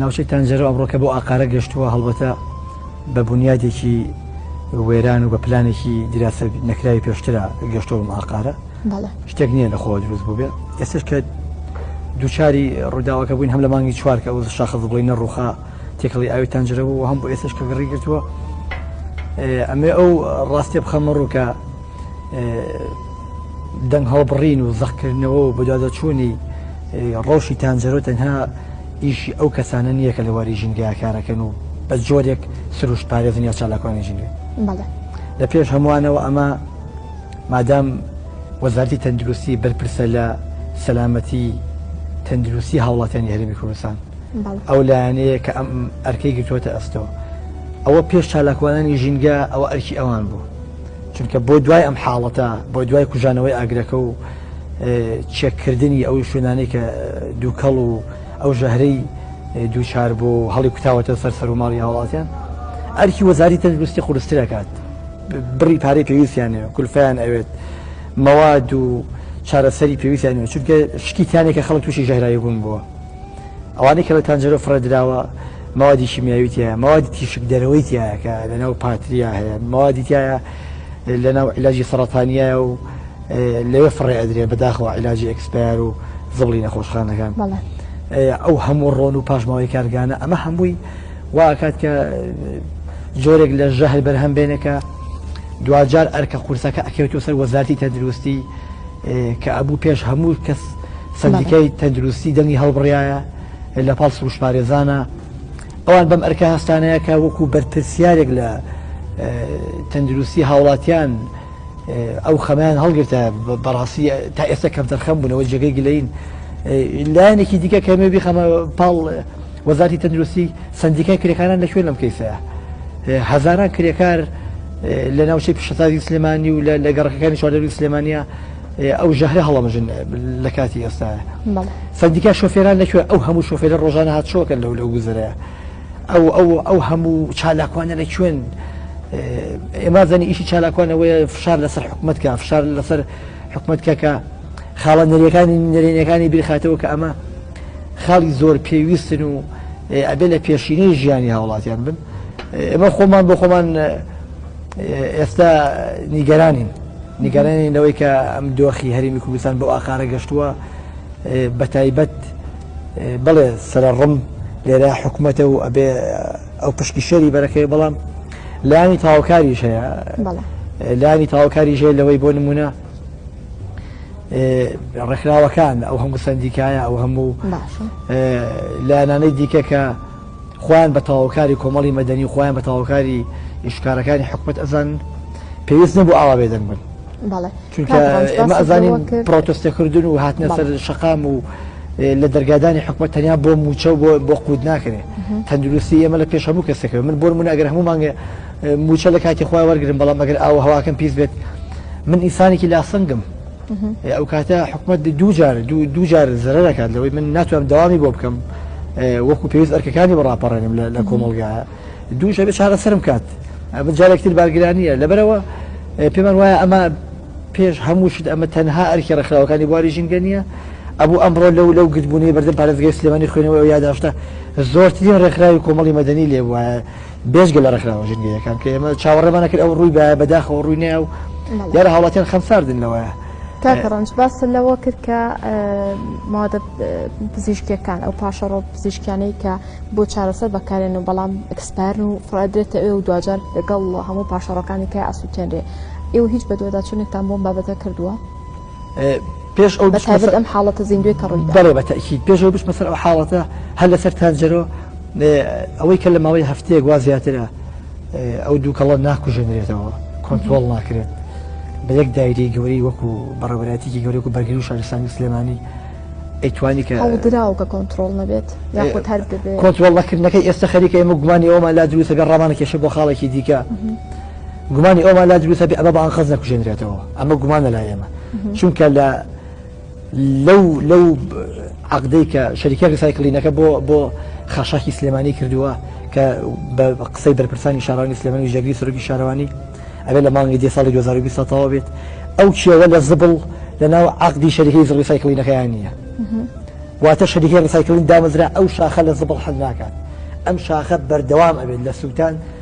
ناوچەی تانجەرە ئەمڕۆکە بۆ ئاقارە گەشتووە هەڵبەتە بە بنیادێکی وێران و بە پلانێکی دیراسە نەکراوی پێشترا گەشتەوە ماقارە شتێک نییە لە خۆ دروست بوو بێ ئێستش کە دوچاری ڕووداوەکە بووین هەم لە مانگی چوارکە ئەو شاخە بڵی نەڕوخا تێکەڵی ئاوی تانجرە بوو هەم بۆ ئێستش کە گڕی گرتووە ئەمێ ئەو ڕاستێ بخەمە ڕووکە دەنگ هەڵبڕین و زەقکردنەوە و بەدادەچوونی ڕەوشی تانجەرۆ تەنها ئیشی ئەو کەسانە نییە کە لە واری ژینگەیە کارەکەن و بە جۆرێک سروشت پارێزن یا چالاکوانی ژینگە لە پێش هەمووانەوە ئەمە مادام وەزارتی تەندروستی بەرپرسە لە سەلامەتی تەندروستی هاوڵاتیانی هەرمی کوردستان ئەو لایەنەیە کە ئەم ئەرکەی گرتووەتە ئەستەوە ئەوە پێش چالاکوانانی ژینگە ئەوە ئەرکی ئەوان بوو چونکە بۆ دوای ئەم حاڵەتە بۆ دوای کوژانەوەی ئاگرەکە و چێککردنی ئەو شوێنانی کە دووکەڵ و ئەو ژەهرەی دووچار بۆ هەڵی کوتاوەتە سەر سەر و ماڵی هاوڵاتیان ئەرکی وەزاری تەندروستی قورسترەکات بڕی پارەی پێویستیانێ کولفیان ئەوێت مەواد و چارەسەری پێویستیانێ چونکە شتیتانێکە خەڵک تووشی ژەهراوی بوون بووە ئەوانەی کە لە تانجەرۆ فڕێ دراوە مەوادی شیمیاوی تایە مەوادی تیشک دەرەوەی تایە کە لەناو پاتریا هەیە مەوادی تایە لەناو علاجی سەرەتانیە و لەوێ فڕێ ئەدرێ بەداخەوە علاجی ئەکسپار و زبڵی نەخۆشخانەکان ئەو هەموو ڕۆن و پاشماوەی کارگانە ئەمە هەمووی واکات کە جۆرێک لە ژەهر بەرهەم بێنێکە دواجار ئەرکە قورسەکە ئەکەوێتەوە سەر وەزارتی تەندروستی کە ئەبوو پێش هەموو کەس سەندیکای تەندروستی دەنگی هەڵبڕایە لە پاڵ سروشتپارێزانە، ئەوان بەم ئەرکە هەستانەیە کە وەکو بەرپرسیارێک لە تەندروستی هاوڵاتیان ئەو خەمەیان هەڵگرتە بەڕاستی تا ئێستا کەم دەرخەم بوونەوە جێگەی گلین لایەنێکی دیکە کەمێ بیخەمە پاڵ وەزارتی تەندروستی سندیکای کرێکانان لە کوێن لەم کەیسەیە هەزاران کرێکار لە ناوچەی پیشەسازی سلێمانی و لە گەڕەکەەکانی چواردەوری سلێمانە ئەو ژەهرە هەڵەمژن لە کاتی ئێستاە سندیکا شۆفێران لەکوێ ئەو هەموو شۆفێرە ڕۆژانە هات شۆکە لەو لەو گوزرەیە ئەو ئەو ئەو هەموو چالاکوانە لە کوێن ئێمازانی ئیشی چالاکوانەوەی فشار لەسەر حکوومەتکە فشار لەسەر حکوومەتکە کە خاڵە نەریەکانی نەرێنەکانی بیرخاتەوە کە ئەمە خاڵی زۆر پێویستن و ئەبێ لە پێشینەی ژیانی هاوڵاتیان بن ئەمە خۆمان بۆ خۆمان ئێستا نیگەرانین نیگەرانین لەوەی کە ئەم دۆخی هەرمی کوردستان بۆ ئاقارە گەشتووە بە تایبەت بڵێ سەرڕم لێرە حکوومەتە و ئەبێ ئەو پشکی شەری بەرەکەی بەڵام لانی تاوکاریش هەیە لانی تاوکاری ژێ لەوەی بۆ نمونە ڕێکخراوەکان ئەو هەموو سندیکایە ئەو هەموو لایەنانەی دیکە کە خۆیان بە تەواوکاری کۆمەڵی مەدەنی و خۆیان بە تەواوکاری ئیشکارەکانی حکومەت ئەزانن پێویست نەبوو ئاوا بێدەنگ بن ئەمە ئەزانین پرۆتستەکردن و هاتنە سەر شقام و لە دەرگادانی حکومە تەنیا بۆ موچە و بۆ قووت ناکرێت تەندروستی ئێمە لە پێش هەموو کەسەکە من بۆ من ئەگەر هەموو مانگە موچە لە کاتی خۆی وەرگن بەڵام ئەگەر ئاوە هەواکەم پیس بێت من ئیسانێکی لاسەنگم ئەو کاتە حکومەت دوو جار دوو جار زرەکات لەوەی من ناتوانم داوامی بۆ بکەم وەکو پێویست ئەرکەکانی بەڕاپەڕێنم لە کۆمەلگا دوو شەبێ چارە سرم کات ئەمە جارێکتر بارگرانیە لەبەرەوە پێمان وایە ئەمە پێش هەموو شت ئەمە تەنها ئەرکی ڕخراوەکانی بواری ژینگە نیە ئەبوو ئەمڕۆ لەو لەو گرتبوونی بەردەم پارێزگای سلێمانی خوێنەوە یاداشتە زۆرترین ڕێکخراوی کۆمەڵی مەدەنی لێ وایە بێژگە لە ڕێکخراوە ژنگەیەکان کە ئێمە چاوەڕێمانە کرد ئەو ڕووی بە بەداخەوە ڕووی ناو یار هاوڵاتیان خەمساردن لەوەیە تاکەڕەنج باس لەوە کرد کە مادە پزیشکەکان ئەو پاشەڕۆ پزیشکیانەی کە بۆ چارەسەر بەکارێن و بەڵام ئەکسپارن و فرادرێتە ئێ و دوجار لەگەڵ هەموو پاشەڕەکانی کە ئاسووتێنرێ ئێوە هیچ بەدوەداچونێکتان بۆم بابەتە کردووە پێش ئەو بەتایبەت ئەم حاڵەتە زیندوێ کە ڕووی دەڵێ بە تەکیید پێش ئەو بچمە سەر ئەو حاڵەتە هەر لەسەر تانجەرۆ ئەوەی کە لە ماوەی هەفتەیەک وا زیاترە ئەو دووکەڵە ناکوژێنرێتەوە کۆنتترۆل ناکرێت بە یەک دایری گەوری وەکو بەڕێوەراتێکی گەورەکو بەرگری و شارستانی سلێمانی ئەیتوانی کە دراو کە کۆنتترۆل نەبێت یاخود هەر کۆنتترۆل نەکردنەکەی ئێستا خەریکە ئێمە گومانی ئەومان لا دروستەکە ڕامانە کێشە بۆ خاڵێکی دیکە. گومانی ئەومان لا دروستە بێ ئەمە بە ئەنقەست نەکوژێنرێتەوە ئەمە گومانە لا ئێمە چونکە لە لەو لەو عقدەی کە شەریکە ریسایکلینەکە بۆ بۆ خاشاکی سلێمانی کردووە کە بە قسەی بەرپرسانی شارانی سلێمانی ژەگری سەرۆکی شارەوانی ئەبێ لە مانگی دی ساڵی 2020 تەوا بێت ئەو کێوە لە زبڵ لە ناو عقدی شەریکەی ریسایکلینەکەیان نییە واتە شەریکە ریسایکلین دامەزرا ئەو شاخە لە زبڵ حل ناکات ئەم شاخە بەردەوام ئەبێت لە سووتان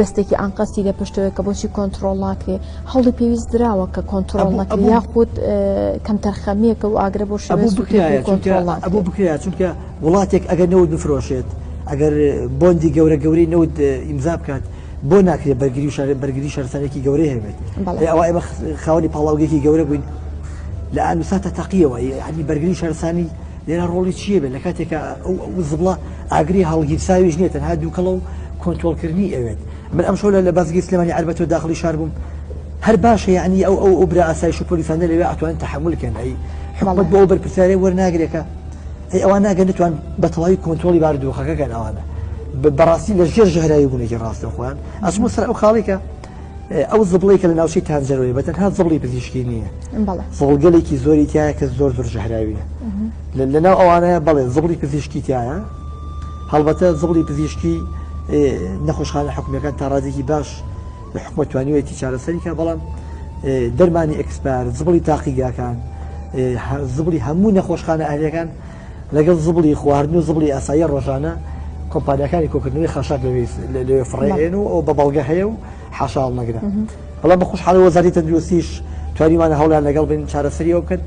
دەستێکی ئانقەستی لە پشتەوەی کە بۆچی کۆنتترۆل ناکرێ هەڵی پێویست دراوە کە کۆنتترۆل نەکە یاخود کەمتەرخەمیەکە و ئاگرە بۆ شەبوو بکرێ چونکە وڵاتێک ئەگەر نەوت بفرۆشێت ئەگەر بۆندی گەورە گەوری نەوت ئیمزا بکات بۆ ناکرێت بەرگری شار بەرگری شارستانێکی گەورەی هەبێت ئەوە ئێمە خاوەنی پاڵاوگەێکی گەورە بووین لە ئەنوساتە تەقیەوە ینی بەرگری شارستانی لێرا ڕۆڵی چیە بێت لە کاتێکە ئەو زبڵە ئاگری هەڵگیرساویش نیە تەنها دوکەڵە و کۆنتۆڵکردنی ئەوێت من ئەمشەو لە بازگەی سلێمانی عەربەتۆ داخڵی شار بووم هەر باشە یعنی ئەو ئەو ئەو برا ئاسایش و پۆلیسانە لەوێ ئەتوانن تحمل کەن ئەی حکومەت بۆ ئەو بەرپرسیارێ وەرناگرێکە ئەی ئەوان ناگەن نتوان بە تەواوی کۆنتۆڵی باردۆخەکەکەن ئەوانە بەڕاستی لە ژێر ژەهراوی بوونێکی ڕاستە خۆیان ئەسمە سەر ئەو خاڵێکە ئەو زبڵی کە لە ناوچی تانجەرۆی بە تەنها زبڵی پزیشکی نییە زۆڵگەلێکی زۆری تایە کە زۆر زۆر ژەهراویە لە ناو ئەوانەیە بەڵێ زبڵی پزیشکی تایە هەڵبەتە زبڵی پزیشکی نەخۆشخانە حکومیەکان تا ڕادێکی باش لە حکومە توانیوەتی چارەسەریکە بەڵام دەرمانی ئەکسپار زبڵی تاقیگاکان زبڵی هەموو نەخۆشخانە ئەهلەکان لەگەڵ زبڵی خواردن و زبڵی ئاسایی ڕۆژانە کۆمپانیاکانی کۆکردنەوەی خاشاک لەوێ فڕێن و ئەو بە بەڵگە هەیە و حاشاڵ نەگرن بەڵام بە خۆش حالە وەزاری تەندروستیش توانیوانە هەوڵیان لەگەڵ بین چارەسەری ئەو بکەن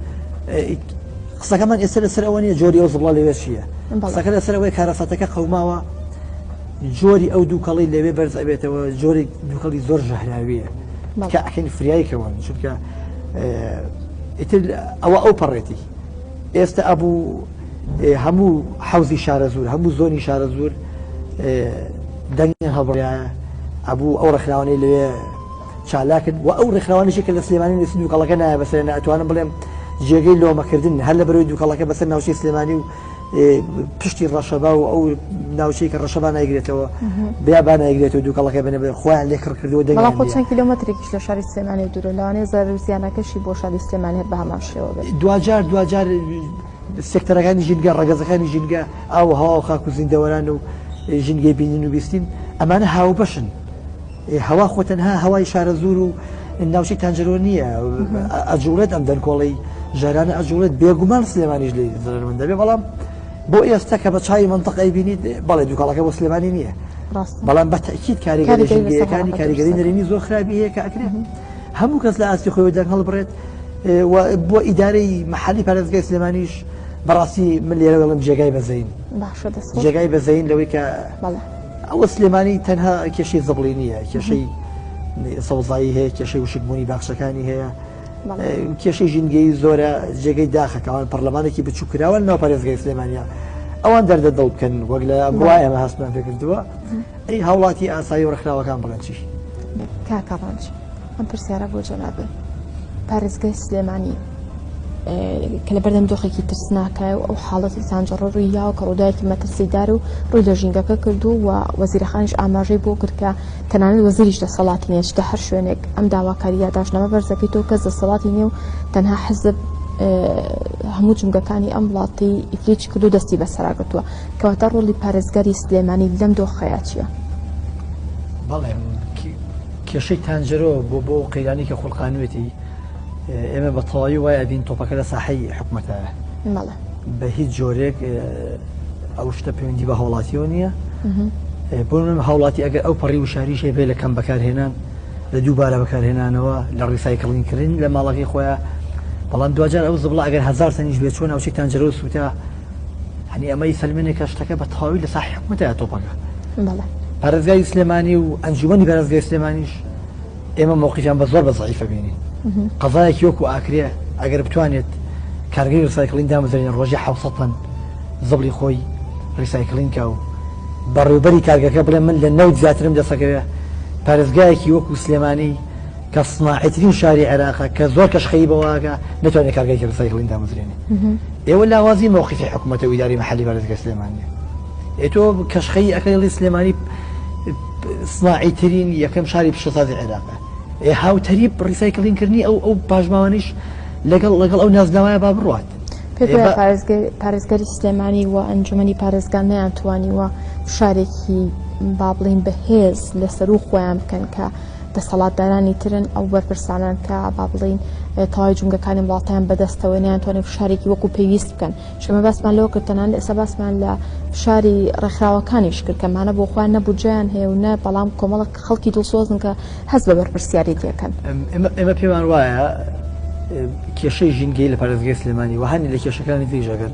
قسەکەمان ئێستا لەسەر ئەوە نیە جۆری ئەو زبڵە لەوێ چیە قسەکە لەسەر ئەوەی کارەساتەکە قەوماوە جۆری ئەو دووکەڵی لەوێ بەرز ئەبێتەوە جۆری دووکەڵی زۆر ژەهراویە کە ئەکەین فریایکەوە چونکە ئیتر ئەوە ئەو پەڕێتی ئێستە ئەبوو هەموو حەوزی شارەزوور هەموو زۆنی شارەزوور دەنگیان هەڵبڕایە ئەبوو ئەو ڕێکخراوانەی لەوێ چالاکن و ئەو ڕێکخراوانیشی کە لە سلێمانی نووسی دووکەڵەکە نایە بەسەر ناتوانم بڵێم جێگەی لۆمەکردن هەر لە بەرەوەی دووکەڵەکە بەسەر ناوچەی سلێمانی و پشتی ڕەشەبا و ئەو ناوچەی کە ڕەشەبا نایگرێتەوە بیابان نایگرێت و دووکەڵەکە بنە بێ خۆیان لێ کڕ کردو دەگەڵ خۆ چەند کیلومترێکیش لە شاری سلێمانی دوورە لەوانێ زەرزیانەکەشی بۆ شاری سلێمانی هەر بە هەمان شێوە بێت دوجار دوجار سێکتەرەکانی ژینگە ڕگەزەکانی ژینگە ئاو هەوا و خاک و زیندەوەران و ژینگەی بینین و بیستین ئەمانە هاوبەشن هەوا خۆ تەنها هەوای شارەزوور و ناوچەی تانجەرۆ نییە ئەجوڵێت ئەم دەنکۆڵی ژارانە ئەجوڵێت بێگومان سلێمانیش لێ زرمن دەبێ بەڵام بۆ ئێستا کە بە چای منطق ئەیبینیت بەڵێ دوکاڵەکە بۆ سلێمانی نییە بەڵام بە تاکیید کاریگەری ژنگەکانی کاریگەری نەرێنی زۆر خراپی هەیە کە ئەکرێت هەموو کەس لە ئاستی خۆی دەنگ هەڵبڕێت بۆ ئیدارەی محلی پارێزگای سلێمانیش بەڕاستی من لێرەوەڵم جێگای بەزین جێگای بەزین لەوەی کە ئەوە سلێمانی تەنها کێشەی زبڵی نییە کێشەی سەوزایی هەیە کێشەی وشکبوونی باخچەکانی هەیە کێشەی ژینگەی زۆرە جێگەی داخەکەوان پەرلەمانێکی بچووکراوە ناو پارێزگای سلێمانیا ئەوان دەردە دڵ بکەن وەک لە بڕای ئەمە هەستمان پێکردووە ئەی هاوڵاتی ئاسایی و ڕخراوەکان بڵێن چی کاکەڕۆژ. ئەم پرسیارە بۆ جەنابی پارێزگای سلێمانی کە لە بەردەم دۆخێکی ترسناکای و ئەو حاڵەتی سانجڕۆر و یاوە کە ڕووداوێکی مەترسیدار و ڕووی لە ژینگەکە کردو و وەزیرەخانیش ئاماژەی بۆ کرد کە تەنانەت وەزیریش دەسەڵاتی نیە چتە هەر شوێنێک ئەم داواکاری یاداشنامە بەرزەکەی تۆ کەس دەسەڵاتی نیە و تەنها حەزب هەموو جمگەکانی ئەم وڵاتی ئیفلیچ کردو دەستی بەسەراگرتووە کەواتە ڕۆڵی پارێزگاری سلێمانی لەم دۆخەیە چیە؟ بەڵێ کێشەی تانجەرۆ بۆ بۆ ئەو قەیرانەی کە خوڵقانوێتی ئێمە بە تەواوی وای ئەبین تۆپەکە لە ساحەی حکومەتە بە هیچ جۆرێک ئەو شتە پەیوەندی بە هاوڵاتیەوە نییە بۆ من هاوڵاتی ئەگەر ئەو پەڕی وشاریش هەیە لە کەم بەکارهێنان لە دووبارە بەکارهێنانەوە لە ڕیسایکلین کردن لە ماڵەکەی خۆیان بەڵام دواجار ئەو زبڵە ئەگەر هزار سنیش بێ چۆن ناوچەی تانجەرۆ سووتا هەنی ئەمەی سلمێنێک کە شتەکە بە تەواوی لە سا حکومەتە تۆپەکە پارێزگای سلێمانی و ئەنجومی پارێزگای سلێمانیش ئێمە مووقیان بە زۆر بە زعیفە بینین قەزایەکی وەکو ئاکرێ ئەگەر بتوانێت کارگەی ڕسایکلین دامەزرێن ڕۆژی حوسەن زبلی خۆی ڕیسایکلین کا و بەڕێوبەری کارگەکە بڵێ من لە نەوت زیاترم دەسەکەوێ پارێزگایەکی وەکو سلێمانی کە سناعیترین شاری عێراقە کە زۆر کەش خەیی بەوەکە نەتوانێت کارگەیەکی ڕسایکلین دامەزرێنێ ئێوە لاوازی مەوقفی حکومەتە و ئیدارەی مەحەلی بارزگە سلێمانیە ئێ تۆ کەش خەیی ئەکەی ڵی سلێمانی سناعیترین یەکەم شاری پیشەسازی عێراقە ئێ هاوتەریب ڕیسایکلین کردنی ئەو ئەو پاشماوانیش لەگەڵ لەگەڵ ئەو نازناوایە با بڕات پارێزگەری سلێمانی و ئەنجومی پارێزگان نیان توانیوە فشارێکی بابلین بەهێز لەسەر و خۆیان بکەن کە دەسەڵاتدارانی ترن ئەو بەرپرسانان کە با بڵین تەواوی جونگەکانی وڵاتیان بەدەستەوە نیانتوانێت فشارێکی وەکو پێویست بکەن شمە باسمان لەوە کردتەنان ئێستا باسمان لە فشاری ڕێکخراوەکانیش کرد کەمانە بۆ خۆیان نەبوجیان هەیە و نە بەڵام کۆمەڵک خەڵکی دڵسۆزن کە هەز بە بەرپرسیاری تێکەن ئێمە پێمان وایە کێشەی ژینگەی لە پارێزگەی سلێمانی وهانی لە کێشەکانی تریژەکەن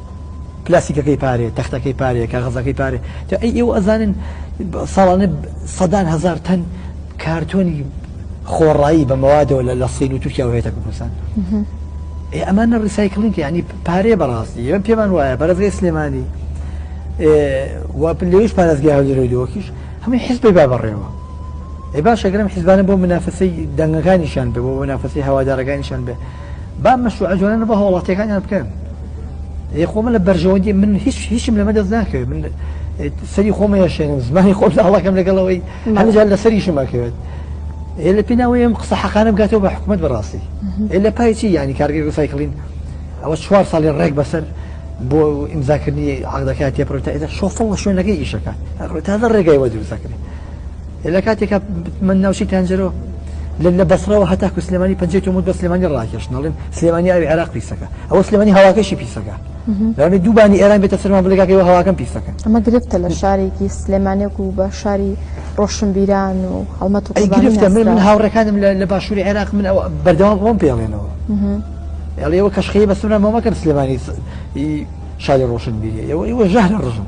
پلاستیکەکەی پارێ، تەختەکەی پارێ، کاغەزەکەی پارێ، جا ئەی ئێوە ئەزانن ساڵانە سەدان هەزار تەن کارتۆنی خۆڕایی بە مەوادەوە لە لە سین و تورکیا و هێتە کوردستان ئێ ئەمانە ڕیسایکلینگ ینی پارێ بەڕاستی ئێمە پێمان وایە بەرەزگەی سلێمانی لەویش پارێزگای هەولێرەوەی دۆکیش هەمووی حزبی با بەڕێوە ئێ باشەگرم حزبانە بۆ منافەسەی دەنگەکانیشان بێ بۆ منافەسەی هەوادارەکانیشان بێ با مەشروعە جوانانە بۆ هاوڵاتیەکانیان بکەن ئێ خۆمە لە بەرژەوەندی من هیچ هیچم لەمە دەست ناکەوێت من سەری خۆمە یاشێنم زمانی خۆم داڵەکەم لەگەڵەوەی هەنجار لە سەریشم ئەکەوێت ئێ لە پێناوەیە ئەم قسە حەقانە بگاتەوە بە حکوومەت بەڕاستی ئێ لە پایچی ینی کارگەری سایکلین ئەوە چوار ساڵی ڕێک بەسەر بۆ ئیمزاکردنی عقدەکە تێپڕێت تا ئێدا شۆفڵ لە شوێنەکەی ئیشەکە تازە ڕێگای وە دروستەکرێت لە کاتێکا من ناوچی تەنجەرۆ لە بەسرەوە هەتا کو سلێمانی پنجێت ومت بە سلێمانی ڕاکێش نڵێن سلێمانی ئەوی عێراق پیسەکە ئەوە سلێمانی هەواکەشی پیسەکە لەێ دووبانی ئێران بێتە سەرمان بلگاکەەوە هەواکەم پیسەکە ئەمە گرفتە لە شارێکی سلێمانێک و بە شاری ڕۆشنبیران و هەڵمەت و گرفتە من من هاوڕەکانم لە باشووری عێراق من بەردەوام بۆم پێڵێنەوە ئەڵێەوە کەشخەیە بەسرە مامەکەم سلێمانی شاری ڕۆشنبیری ئەوە ئەوە ژەهرە ڕژن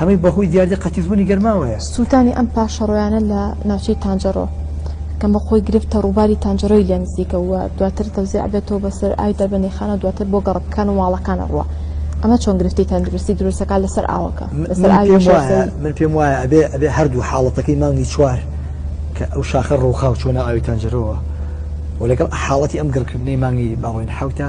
هەمووی بەهۆی دیاردەی قەتیسبوونی گەرماوەیە. سووتانی ئەم پاشەڕۆیانە لە ناوچەی تانجەڕۆ کە بە خۆی گرفتە ڕووباری تانجەرۆی لێ نزیکە و دواتر تەوزێع ئەبێتەوە بەسەر ئاوی دەربەندیخانە و دواتر بۆ گەڕەکەکان و ماڵەکان ئەڕوا ئەمە چۆن گرفتی تەندروستی دروست دەکات لەسەر ئاوەکە لەسەر ئاوی پێم وایە شۆستەیی من پێم وایە ئەبێ ئەبێ هەردوو حاڵەتەکەی مانگی چوار کە ئەو شاخە ڕووخا و چۆنە ئاوی تانجەرۆوە و لەگەڵ حاڵەتی ئەم گڕکردنەی مانگی باڵۆین حەوتە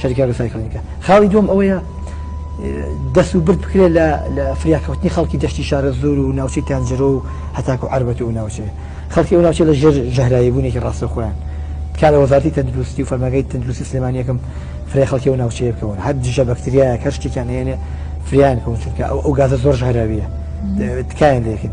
شەریکە ڕسایکلینگە خاڵی دوم ئەوەیە دەست و برد بکرێت لە لە فریاکەوتنی خەڵکی دەشتی شارە زۆر و ناوچەی تانجرۆ و هەتاکو عربەت و ناوچێ خەڵکی ئەو ناوچە لە ژێر ژەهرایی بوونێکی ڕاستە خۆیان کارە وەزارتی تەندروستی و فەرمەگەی تەندروستی سلێمانیەکەم فرێ خەڵکی و ناوچەیە بکەون هەر دژە بەکتریاە کە شتێکیان هێنێ فریان کەون چونکە ئەو ئەو گازە زۆر ژهراویە تکایان لەکن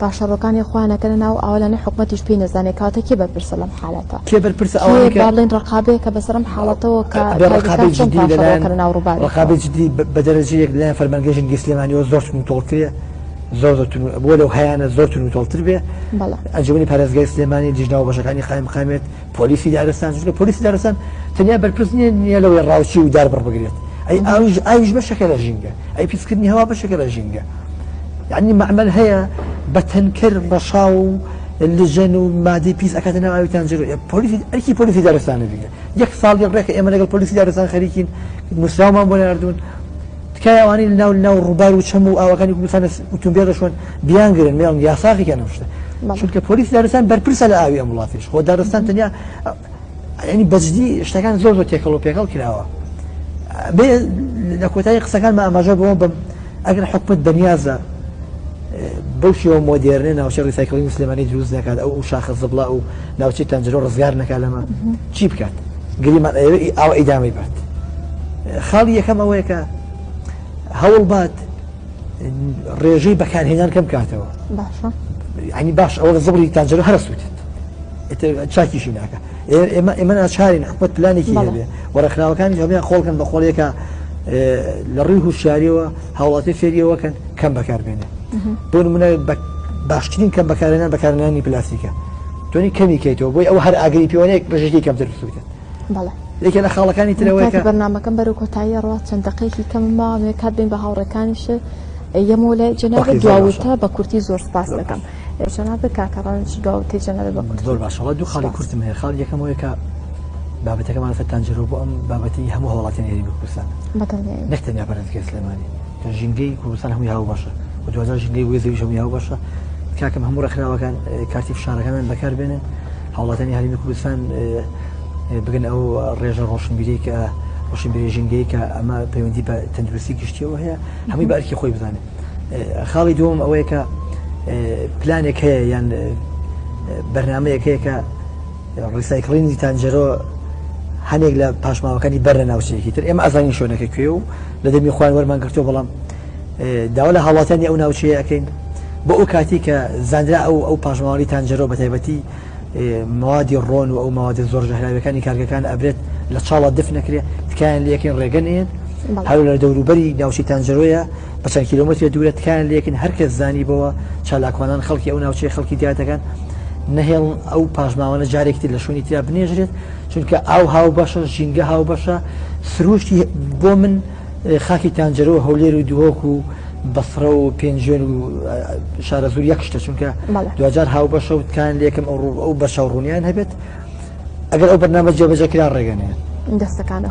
پاشەڕۆکانی خۆیان ئەکەنە ناو ئاوەلانە حکومەتیش پێی نەزانێ کەواتە کێ بەرپرسە لەم حالەتە؟ کێ بەرپرسە ئەوانەی کێ کە با بڵێین ڕقابەیە کە بەسەر ئەم حاڵەتەوە کە بێ ڕقابەی تایبەتکان چۆن جدی پاشەڕۆ لەلایەن ئەکەنە ناو ڕووباری خۆ؟ ڕقابەی جدی بە بە دەرەجەیەک لەلایەن فەرمانگەی ژینگەی سلێمانیەوە زۆر توند و تۆڵترە زۆر زۆر توند بۆ لەو هەیانە زۆر توند و تۆڵتر بێ بەڵێ. ئەنجومەنی پارێزگای سلێمانی لیژنە وبەشەکانی قایمقامیەت پۆلیسی دارستان چونکە پۆلیسی دارستان تەنیا بەرپرس نیە نیە لەوەی ڕاوچی و دار بڕبگرێت ئەی ئاوش ئاویش بەشەکە لە ژینگە ئەی پیسکردنی هەوا بەشەکە لە ژینگە یعنی معمل هەیە بە تەنکەر ڕەشا و لژەن و مادەی پیس ئەکاتە ناو ئاوی تانجر پۆلیسی ئەرکی پۆلیسی دارستانە بگە یەک ساڵی ڕێکە ئێمە لەگەڵ پۆلیسی دارستان خەریکین نووسراومان بۆ ناردوون تکایە ئەوانەی ناو ناو ڕووبار و چەم و ئاوەکانی کوردستان ئوتومبێلەشوان بیان گرن مێڵن یاساخی کە نەشتە چونکە پۆلیس دارستان بەرپرسە لە ئاوی ئەم وڵاتیش خۆ دارستان تەنیا ینی بەجددی شتەکان زۆر زۆر تێکەڵ و پێکەڵ کراوە بێ لە کۆتایی قسەکان مە ئاماژە بەوە بم ئەگەر حکومت بەنیازە بەو شێوە مۆدێرنێ ناوچە ڕیسایکڵی مسلمانی دروست نکات ئەو و شاخە زبڵا و ناوچی تەنجرۆ ڕزگار نەکە لەمە چی بکات گریمان ئەوەی ئاو ئیدامی بات خاڵی یەکەم ئەوەیە کە هەوڵ بات ڕێژەی بەکارهێنان کەم کاتەوە ئەنی باش ئەوە زبری تاجر هەر سووتێت چاکیشی ناکە ئێمە ئێمە ناچارین حکوت پلانێکی هەبێ و ڕخناوەکانی هەمیان خۆڵکن بە خۆڵێکە لە ڕووی هوشاریەوە هاوڵاتی فێریەوەکەن کەم بەکاربێنێ بۆ منە باشترین کەم بەکارێنان بەکارنانی پلاسیکە تۆنی کەمی کەیتەوە بۆی ئەو هەر ئاگری پێوانەیەک بەژێکی کەمتر بسووتێت بەڵێ یەکێ لە خاڵەکانی ترەوەکە بەرنمەکەم بەرو کۆتایی ڕات چەند دقەیەکی کەم ماوە نوێ کات بین بە هاوڕەکانیش یەمۆ لە جناب دواوتە بە کورتی زۆر سپاس دەکەم جناب کاکەڕانش دواوتی جناب بە کورت زۆر باشەوە دوو خاڵی کورتم هەیە خاڵ یەکەمەوەی کە بابەتەکەمان فەتانجرۆ بۆ ئەم بابەتی هەموو هەوڵاتیان هێری بکوسان نەکتەنیا پەرستگە سلێمانی ژینگەی کوردستان هەمووی هاو باشە و دوازار ژینگەی وێزەویش هەمووی هاو باشە کاکەم هەموو ڕێکخراوەکان کارتی فشارەکانیان بەکار بێنن هاوڵاتیانی هەرێمی کوردستان بگەنە ئەو ڕێژە ڕۆشنبیری کە ڕۆشنبیری ژینگەی کە ئەمە پەیوەندی بە تەندروستی گشتیەوە هەیە هەمووی بە ئەرکی خۆی بزانێت خاڵی دوم ئەوەیە کە پلانێک هەیە یان بەرنمەیەک هەیە کە ڕیسایکلینی تانجەرۆ هەنێک لە پاشماوەکانی بەر لە ناوچەیەکی تر ئێمە ئازانی شوێنەکە کوێ و لە دەمی خوان وەرمان گرتو بەڵام داوا لە هاوڵاتیانی ئەو ناوچەیە ئەەکەین بۆ ئەو کاتی کە زانرا ئەو ئەو پاشماوەی تانجەرۆ بە تایبەتی موادی ڕۆن و ئەو موادە زۆر ژەهراوەکانی کارگەکان ئەبرێت لە چاڵە دف نەکرێت تکایان لەکەین ڕێگەنێت هەر لە دەوروبەری ناوچی تانجەرۆیە بە چەند کیلومتر دوورە تکایان لەکن هەرکەس زانی بەوە چالاکوانان خەڵکی ئەو ناوچەی خەڵکی دیاتەکان نەهێڵ ئەو پاشماوانە جارێکتر لە شوێنی تررا بنێژرێت چونکە ئاو هاو بەشە ژینگە هاو بەشە سروشتی بۆ من خاکی تانجەرە و هەولێر و دهۆک و بەسڕە و پێنجوێن و شارەزوور یەک شتە چونکە دوجار هاوبەشە و تکان لەکەم ئەو ڕوو ئەو بەشە ڕوونیان هەبێت ئەگەر ئەو بەرنامە جێبەجەکرا ڕێگەنێ دەستەکانە